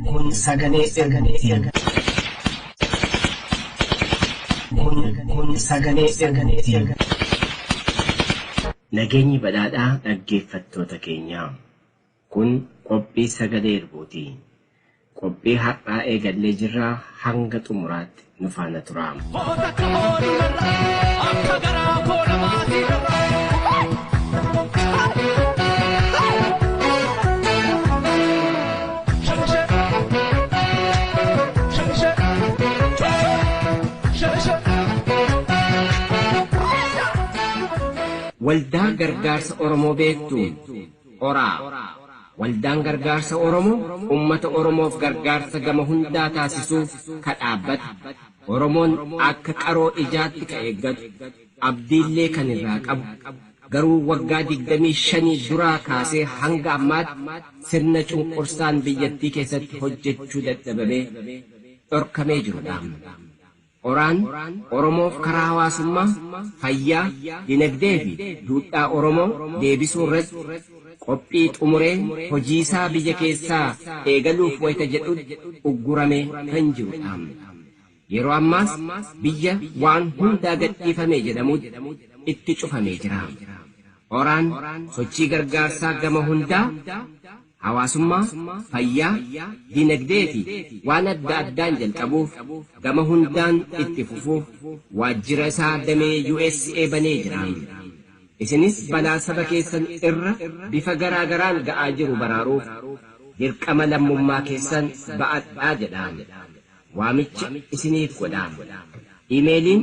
Kun sagalee ergamiti. Kun sagalee ergamiti. Nageenyi badhaadhaa dhaggeeffattoota keenyaa. Kun qophii sagalee ergooti. Qophii har'aa eegallee jirra hanga xumuraatti nu faana turaa. Hoo takka hoo ni marra akka garaa koo namaatii marra. Waldaa Gargaarsa Oromoo beektuu? Oraa. Waldaan Gargaarsa Oromoo ummata Oromoof gargaarsa gama hundaa taasisuu ka dhaabbate, Oromoon akka qaroo ijaatti ka eeggatu, abdiillee kan irraa qabu, garuu waggaa 25 duraa kaasee hanga ammaatti sirna cunqursaan biyyattii keessatti hojjechuu dadhabamee dhorkamee jiru dha. Qoraan, Oromoof karaa hawaasummaa, fayyaa, dinagdee fi duudhaa Oromoo deebisuu irratti qophii xumuree hojii isaa biyya keessaa eegaluuf wayita jedhutti ugguramee kan jiru dha. Yeroo ammaas biyya waan hundaa gadhiifame jedhamutti itti cufamee jira. Qoraan sochii gargaarsaa gama hundaa hawaasummaa, fayyaa, dinagdee fi waan adda addaan jalqabuuf gama hundaan itti fufuuf waajjira isaa damee usa banee jira. Isinis balaa saba keessan irra bifa garaa garaan ga'aa jiru baraaruuf dirqama lammummaa keessan ba'adhaa jedha. Waamicha isiniif godha. Imeeliin.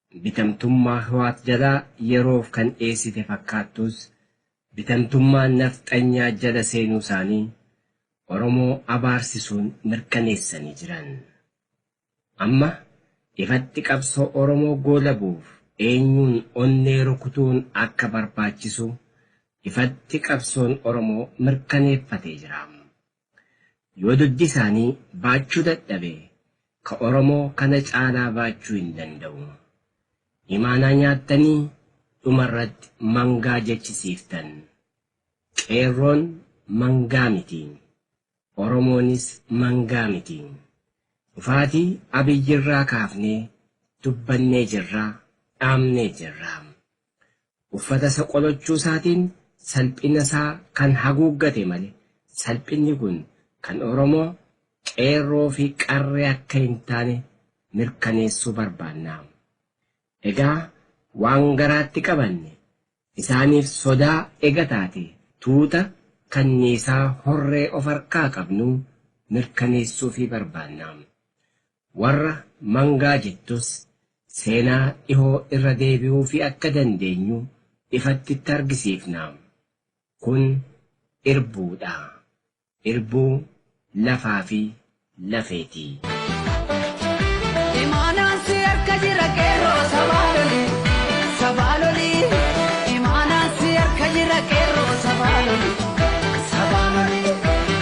bitamtummaa Hiwaat jalaa yeroof kan dheessite fakkaattuus bitamtummaa nafxanyaa jala seenuu isaanii Oromoo abaarsisuun mirkaneessanii jiran. Amma ifatti qabsoo Oromoo goolabuuf eenyuun onnee rukutuun akka barbaachisu ifatti qabsoon Oromoo mirkaneeffatee jira. Yoo duddi isaanii baachuu dadhabe ka Oromoo kana caalaa baachuu hin danda'u. Imaanaa nyaattanii dhumarratti mangaa jechisiiftan. Qeerroon mangaa miti. Oromoonis mangaa miti. Dhufaatii Abiyyirraa kaafnee dubbannee jirra, dhaamnee jirra. Uffata isa qolachuu isaatiin salphina isaa kan haguuggate male salphinni kun kan Oromoo qeerroo fi qarree akka hin taane mirkaneessuu barbaanna. Egaa waan garaatti qabanne isaaniif sodaa ega taate tuuta kanniisaa horree of harkaa qabnuu mirkaneessuufii barbaanna. Warra mangaa jettus seenaa dhihoo irra deebi'uufii akka dandeenyu ifatti itti argisiifna. Kun irbuu dha. Irbuu lafaa fi lafeeti. Imaanaan si harka jira qeerroo sabaa loli sabaa loli Imaanaan si harka jira qeerroo sabaa loli sabaa loli.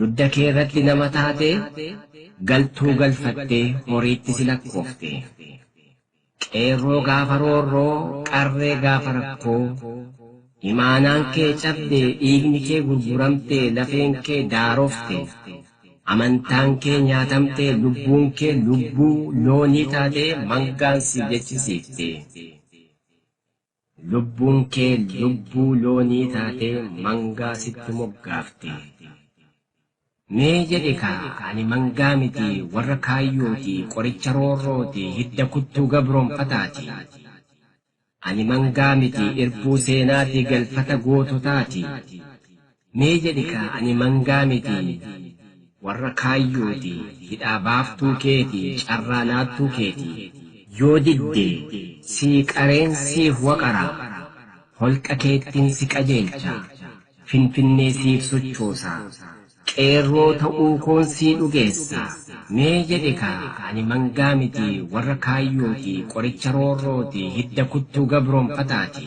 Dudda kee irratti nama taatee, galtuu galfattee horiitti si lakkooftee. Qeerroo gaafa roorroo, qarree gaafa rakkoo, imaanaan kee cabdee, dhiigni kee gurguramtee, lafeen kee daarofte, amantaan kee nyaatamtee, lubbuun kee lubbuu loonii taatee mangaan si jechisiifte. Lubbuun kee lubbuu loonii taatee mangaa sitti moggaafte. Mee jedhi kaa ani mangaa miti warra kaayyooti qoricha roorrooti hidda kuttuu gabroomfataati. Ani mangaa miti irbuu seenaati galfata goototaati. Mee jedhi kaa ani mangaa miti warra kaayyooti hidhaa baaftuu keeti carraa laattuu keeti. Yoo didde sii qareen siif waqara holqa keettin si qajeelcha finfinnee siif sochoosa qeerroo ta'uu koon sii dhugeessa mee jedhi kaa ani mangaa miti warra kaayyooti qoricha roorrooti hidda kuttuu gabroomfataati.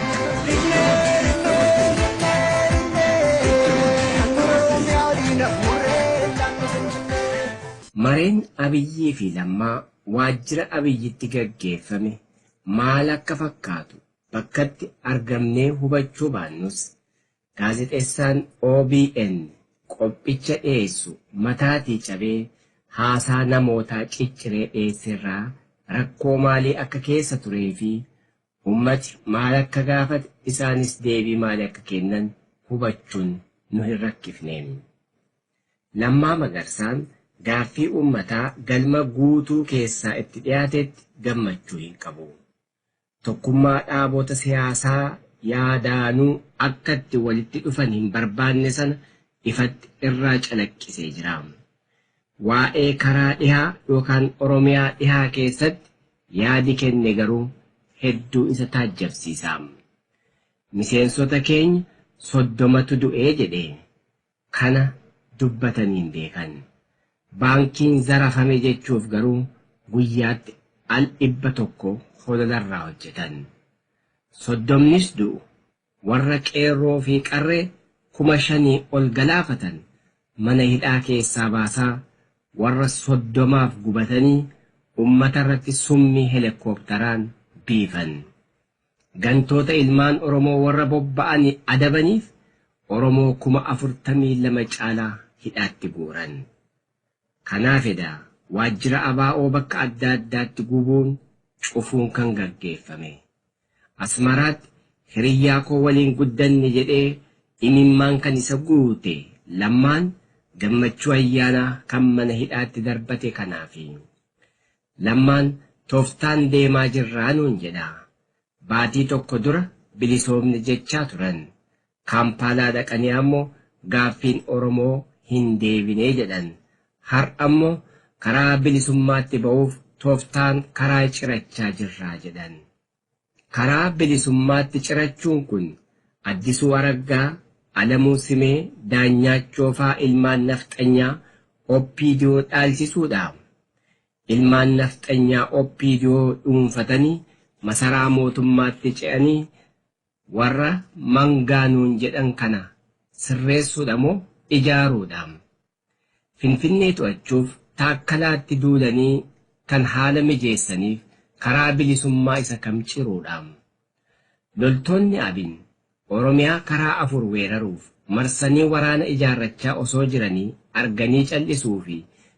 Mareen Abiyyii fi Lammaa waajjira Abiyyitti gaggeeffame maal akka fakkaatu bakkatti argamnee hubachuu baannus, gaazexessaan obn qophicha dhiyeessu mataatii cabee haasaa namootaa cicciree dhiyeesserraa rakkoo maalii akka keessa turee fi Ummati maal akka gaafate, isaanis deebii maali akka kennan hubachuun nu hin rakkifne. Lammaa Magarsaan gaaffii ummataa galma guutuu keessaa itti dhiyaatetti gammachuu hin qabu. Tokkummaa dhaabota siyaasaa yaadaanuu akka itti walitti dhufan hin barbaanne sana ifatti irraa calaqqisee jira. Waa'ee karaa dhihaa yookaan Oromiyaa dhihaa keessatti yaadi kenne garuu hedduu isa taajjabsiisa. Miseensota keenya soddomatu du'e jedhe. Kana dubbatanii hin beekan. Baankiin zarafame jechuuf garuu guyyaatti al dhibba tokko hololarraa hojjetan. Soddomnis du'u Warra Qeerroo fi Qarree kuma shanii ol galaafatan mana hidhaa keessaa baasaa, warra soddomaaf gubatanii ummata irratti summii helekkooptaraan biifan. Gantoota ilmaan Oromoo warra bobba'ani adabaniif Oromoo kuma afurtamii lama caalaa hidhaatti guuran. Kanaaf edaa waajjira ABO bakka adda addaatti gubuun, cufuun kan gaggeeffame. Asmaraatti hiriyyaa koo waliin guddanne jedhee imimmaan kan isa guute Lammaan Gammachuu Ayyaanaa kan mana hidhaatti darbate kanaafi. Lammaan toftaan deemaa jirraa nuun jedha. Baatii tokko dura bilisoomne jechaa turan. Kaampaalaa dhaqanii ammoo gaaffiin Oromoo hin deebine jedhan. Har'a ammoo karaa bilisummaatti ba'uuf tooftaan karaa cirachaa jirra jedhan. Karaa bilisummaatti cirachuun kun Addisuu Araggaa, Alamuu Simee, Daanyaachoo faa ilmaan nafxanyaa OPDO dhaalchisuudha? Ilmaan nafxanyaa OPDO dhuunfatanii masaraa mootummaatti ce'anii Warra mangaa nuun jedhan kana sirreessuudha moo ijaaruudha? Finfinnee to'achuuf Taakkalaatti duulanii kan haala mijeessaniif karaa bilisummaa isa kam ciruudha? Loltoonni abin Oromiyaa karaa afur weeraruuf marsanii waraana ijaarrachaa osoo jiranii arganii cal'isuufi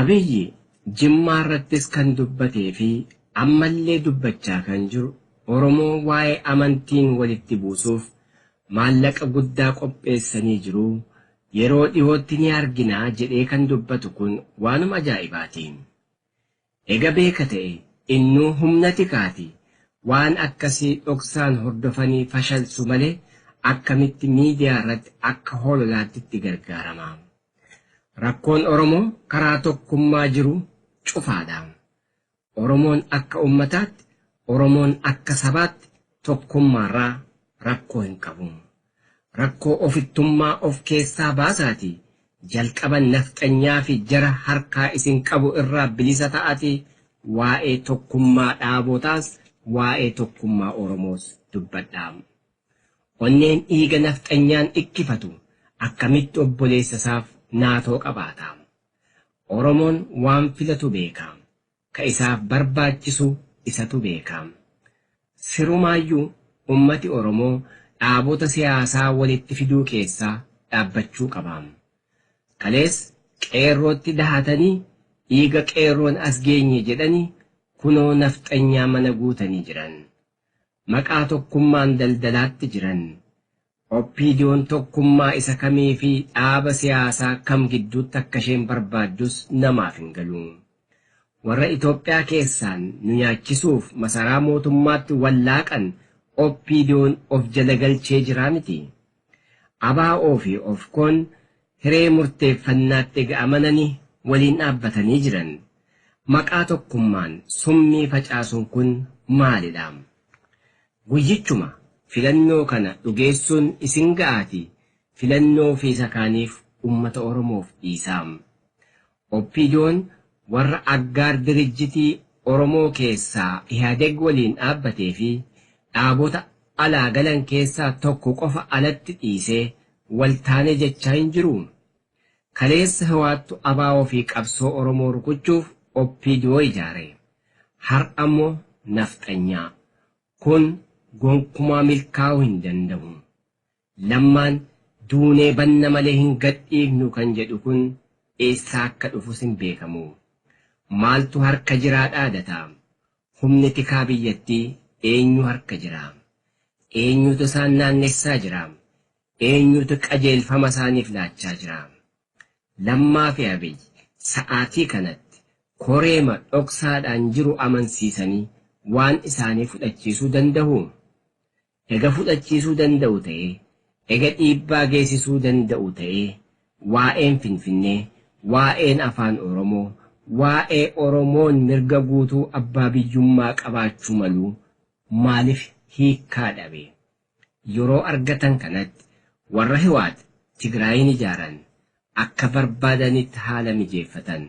Abiyyi Jimmaarrattis kan dubbatee fi ammallee dubbachaa kan jiru Oromoo waa'ee amantiin walitti buusuuf maallaqa guddaa qopheessanii jiru, yeroo dhihootti ni argina jedhee kan dubbatu kun waanuma ajaa'ibaati. Ega beeka ta'e innu humna tikaati waan akkasii dhoksaan hordofanii fashalsu malee akkamitti miidiyaa irratti akka hololaatti itti gargaarama. Rakkoon Oromoo karaa tokkummaa jiru cufaadha. Oromoon akka ummataatti, Oromoon akka sabaatti tokkummaarraa rakkoo hin qabu. Rakkoo ofittummaa of keessaa baasaatii jalqaba nafxanyaa fi jara harkaa isin qabu irraa bilisa ta'atii waa'ee tokkummaa dhaabootaas waa'ee tokkummaa Oromoos dubbadhaam. Onneen dhiiga nafxanyaan dhikkifatu akkamitti obboleessa isaaf naatoo qabaataam. Oromoon waan filatu beekaam. Ka isaaf barbaachisu isatu beeka. Sirumaayyuu ummati Oromoo dhaabota siyaasaa walitti fiduu keessaa dhaabbachuu qaba. Kalees Qeerrootti dahatanii dhiiga Qeerroon as geenye jedhanii kunoo Nafxanyaa mana guutanii jiran. Maqaa tokkummaan daldalaatti jiran. OPDOn tokkummaa isa kamii fi dhaaba siyaasaa kam gidduutti akka isheen barbaaddus namaaf hin galu. Warra Itoophiyaa keessaan nu nyaachisuuf masaraa mootummaatti wal laaqan OPDOn of jala galchee jiraa miti? ABO fi OFKOn hiree murteeffannaatti ega amanani waliin dhaabbatanii jiran, maqaa tokkummaan summii facaasuun kun maalidha? Guyyichuma filannoo kana dhugeessuun isin ga'aatii filannoo fi isa kaaniif ummata Oromoof dhiisaa. Opdon warra aggaar dirijjitii Oromoo keessaa Ihadeg waliin dhaabbatee fi dhaabota alaa galan keessaa tokko qofa alatti dhiisee wal taane jechaa hin jiruu? Kaleessa Hiwaattu Abaawoo fi qabsoo Oromoo rukuchuuf opdo ijaare. Har'a immoo Nafxanyaa. Kun gonkumaa milkaa'uu hin dandahu. Lammaan, Duunee banna malee hin gadhiifnu kan jedhu kun eessaa akka dhufus hin beekamu. Maaltu harka jiraa dhaadata? Humni tikaa biyyattii eenyu harka jira? Eenyutu isaan naannessaa jira? Eenyutu qajeelfama isaaniif laachaa jira? Lammaafi Abiy sa'aatii kanatti koreema dhoksaadhaan jiru amansiisanii waan isaanii fudhachiisuu dandahuu? Ega fudhachiisuu danda'u ta'ee, ega dhiibbaa geessisuu danda'u ta'ee, waa'een Finfinnee, waa'een Afaan Oromoo, waa'ee Oromoon mirga guutuu abbaa biyyummaa qabaachuu maluu maalif hiikkaa dhabe? Yeroo argatan kanatti warra Hiwaat Tigraayiin ijaaran akka barbaadanitti haala mijeeffatan.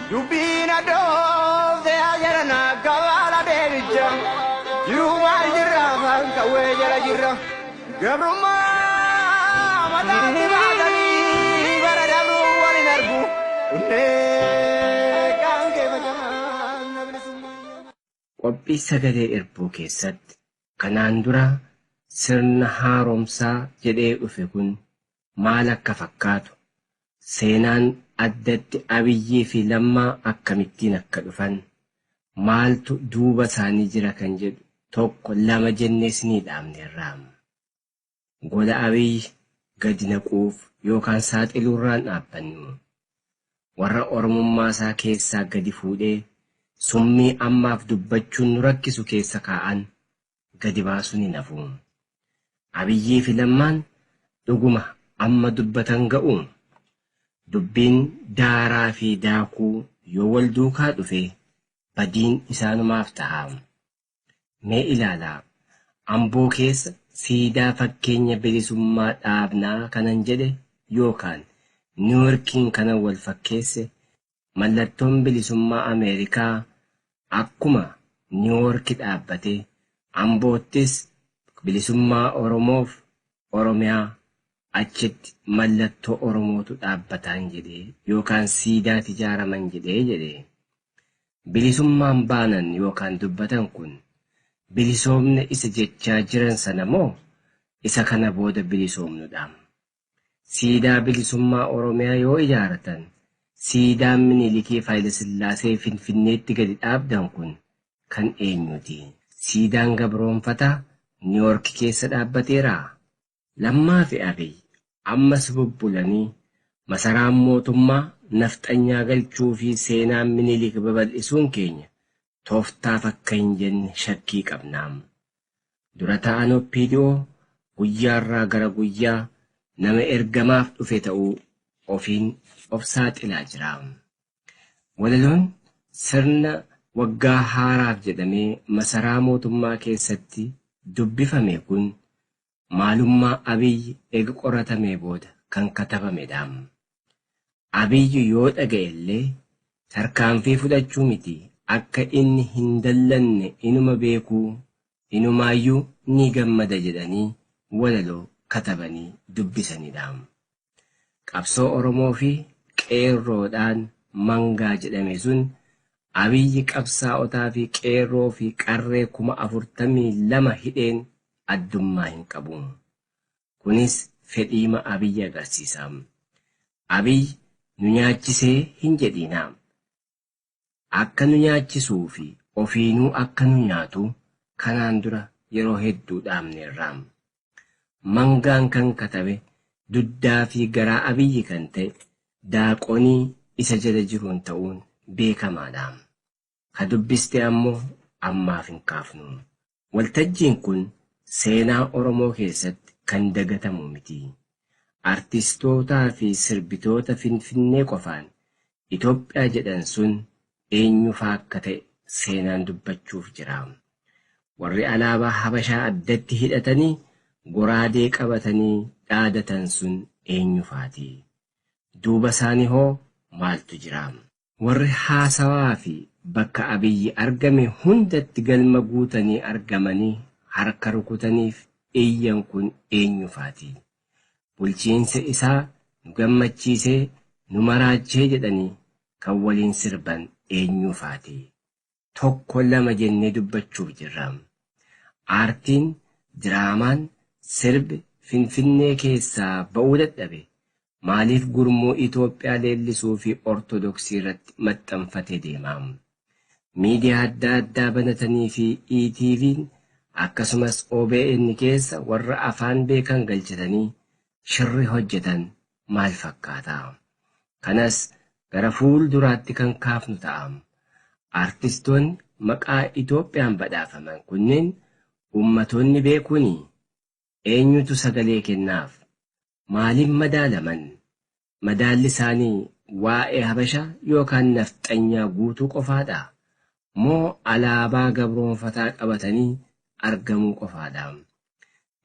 Dubbii na dhoofte yaa jarana gabaala deebicha jiruu maal jirra afaan qawwee jala jirra gabrummaa mataatti baatanii bara dabruu wal hin argu onnee qaamkee facaafna bilisummaa. Qophii sagalee irbuu keessatti kanaan dura sirna haaromsaa jedhee dhufe kun maal akka fakkaatu, seenaan addatti Abiyyii fi Lammaa akkamittiin akka dhufan, maaltu duuba isaanii jira kan jedhu tokko lama jennee isinii dhaamneerra. gola Abiy gadi naquuf yookaan saaxiluurraan dhaabbannu warra Oromummaasaa keessaa gadi fuudhee summii ammaaf dubbachuun nu rakkisu keessa kaa'an gadi baasuun hin hafu. Abiyyiifi Lammaan dhuguma amma dubbatan ga'uu? Dubbiin daaraafi daakuu yoo wal duukaa dhufe badiin isaanumaaf taha. Mee ilaalaa, Amboo keessa siidaa fakkeenya bilisummaa dhaabna kanan jedhe yookaan Niwuyorkiin kanan wal fakkeesse, mallattoon bilisummaa Ameerikaa akkuma Niwuyorki dhaabbate, Amboottis bilisummaa Oromoof Oromiyaa achitti mallattoo Oromootu dhaabbataan jedhee yookaan siidaati ijaaraman jedhee jedhe. Bilisummaan baanan yookaan dubbatan kun bilisoomne isa jechaa jiran sana moo isa kana booda bilisoomnu dha? Siidaa Bilisummaa Oromiyaa yoo ijaaratan siidaan Minilikii fi Hayilasillaasee Finfinneetti gadi dhaabdan kun kan eenyuuti? Siidaan gabroomfataa Niiwoorki keessa dhaabbateeraa? Lammaa fi Abiy ammas bubbulanii masaraan mootummaa nafxanyaa galchuu fi seenaa Minilik babal'isuun keenya tooftaaf akka hin jenne shakkii qabna. Dura ta'aan OPDO guyyaarraa gara guyyaa nama ergamaaf dhufe ta'uu ofiin of saaxilaa jira. Walaloon sirna waggaa haaraaf jedhamee masaraa mootummaa keessatti dubbifame kun maalummaa Abiy ega qoratamee booda kan katabamedhaam. Abiy yoo dhaga'ellee tarkaanfii fudhachuu miti akka inni hin dallanne inuma beekuu inumaayyuu ni gammada jedhanii walaloo katabanii dubbisanidhaam. Qabsoo Oromoo fi Qeerroodhaan mangaa jedhame sun Abiyyi qabsaa'otaa fi Qeerroo fi Qarree kuma afurtamii lama hidheen addummaa hin qabu. Kunis fedhiima Abiyyi agarsiisa. Abiyyi nu nyaachisee hin jedhiinaa. akka nu nyaachisuu fi ofiinuu akka nu nyaatu kanaan dura yeroo hedduu dhaamneerra. Mangaan kan katabe duddaa fi garaa Abiyyi kan ta'e daaqonii isa jala jiruun ta'uun beekamaadha. Ka dubbiste ammoo ammaaf hin kaafnu. Waltajjiin kun seenaa Oromoo keessatti kan dagatamu miti. Artistootaa fi sirbitoota Finfinnee qofaan Itoophiyaa jedhan sun eenyu faa akka ta'e seenaan dubbachuuf jira. Warri alaabaa Habashaa addatti hidhatanii goraadee qabatanii dhaadatan sun eenyu faati? Duuba isaanii hoo maaltu jira? Warri haasawaa fi bakka Abiyyi argame hundatti galma guutanii argamanii harka rukutaniif iyyan kun eenyu faati? Bulchiinsa isaa nu gammachiisee, nu maraachee jedhanii kan waliin sirban eenyuu faati? tokko lama jennee dubbachuuf jirra. Aartiin, diraamaan, sirbi Finfinnee keessaa ba'uu dadhabe maaliif gurmuu Itoophiyaa leellisuu fi Ortodoksii irratti maxxanfatee deema? Miidiyaa adda addaa banatanii fi ETVn akkasumas OBN keessa warra afaan beekan galchitanii shirri hojjetan maal fakkaata? Kanas gara fuulduraatti kan kaafnu ta'a. Artistoonni maqaa Itoophiyaan badhaafaman kunneen ummatoonni beekuni? Eenyutu sagalee kennaaf? Maaliin madaalaman? Madaalli isaanii waa'ee Habasha yookaan Nafxanyaa guutuu qofaadha? Moo alaabaa gabroonfataa qabatanii argamuu qofaadha?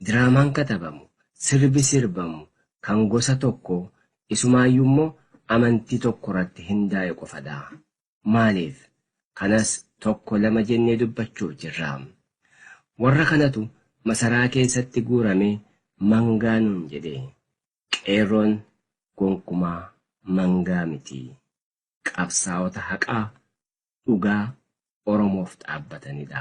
Diraamaan katabamu, sirbi sirbamu kan gosa tokko isumaayyuu immoo amantii tokko irratti hindaa'e qofadha. Maaliif? Kanas tokko lama jennee dubbachuuf jirra. Warra kanatu masaraa keessatti guuramee mangaa nuun jedhe. Qeerroon gonkumaa mangaa miti. Qabsaa'ota haqaa dhugaa Oromoof dhaabbatanidha.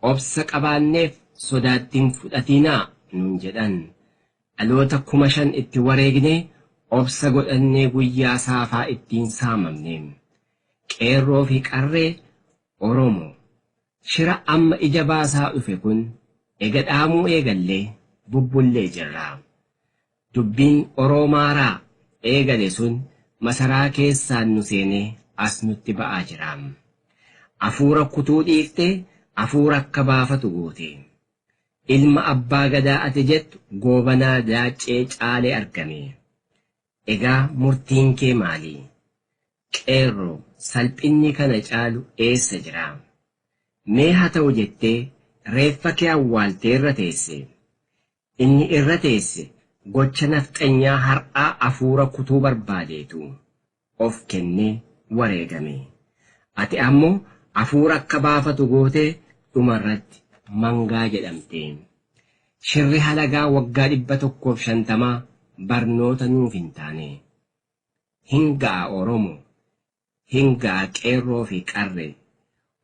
Obsa qabaanneef sodaatti hin fudhatiinaa nuun jedhan. Dhaloota kuma shan itti wareegne obsa godhannee guyyaa saafaa itti hin saamamne. Qeerroo fi Qarree Oromo shira amma ija baasaa dhufe kun ega dhaamuu eegallee bubbullee jirra. Dubbiin Oroomaaraa eegale sun masaraa keessaan nu seenee as nutti ba'aa jira. Afuura kutuu dhiifte afuura akka baafatu goote. Ilma Abbaa Gadaa ati jettu Goobanaa Daaccee caalee argame. Egaa murtiin kee maali? Qeerroo, salphinni kana caalu eessa jira? Mee haa ta'u jettee reeffa kee awwaaltee irra teesse. Inni irra teesse gocha nafxanyaa har'aa afuura kutuu barbaadeetu of kennee wareegame. Ati ammoo afuura akka baafatu gootee dhuma irratti mangaa jedhamte. Shirri halagaa waggaa 150 barnoota nuuf hin taane. Hin ga'a Oromo! hin ga'a qeerroo fi qarree.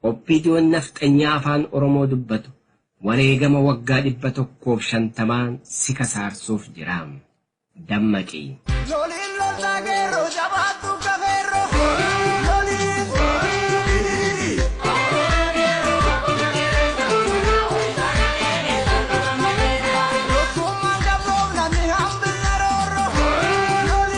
Opdon nafxanyaa afaan oromoo dubbatu wareegama waggaa 150n si kasaarsuuf jira. Dammaqi. Loliin loltaa qeerroo jabaadhu akka feerroo loliin diriiri. Tokkummaan qabsoofna ni hambifna roorroo loliin.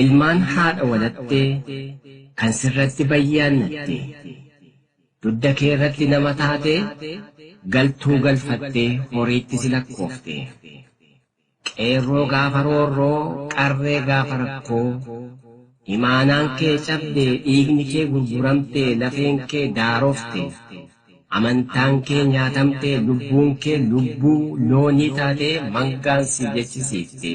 Ilmaan haadha walattee kan sirratti bayyaannatte dudda keerratti nama taatee galtuu galfattee horiitti si lakkoofte. Qeerroo gaafa roorroo, qarree gaafa rakkoo, imaanaan kee cabde, dhiigni kee gurguramte, lafeen kee daarofte, amantaan kee nyaatamte, lubbuun kee lubbuu loonii taatee mangaan si jechisiifte.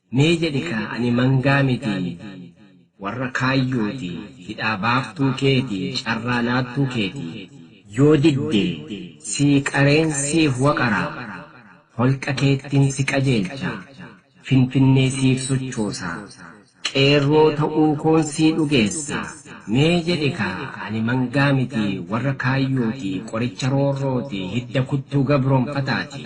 Mee jedhi kaa ani mangaa miti warra kaayyooti hidhaa baaftuu keeti carraa laattuu keeti. Yoo didde sii qareen siif waqara holqa keettin si qajeelcha finfinnee siif sochoosa qeerroo ta'uu koon sii dhugeessa mee jedhi kaa ani mangaa miti warra kaayyooti qoricha roorrooti hidda kuttuu gabroomfataati.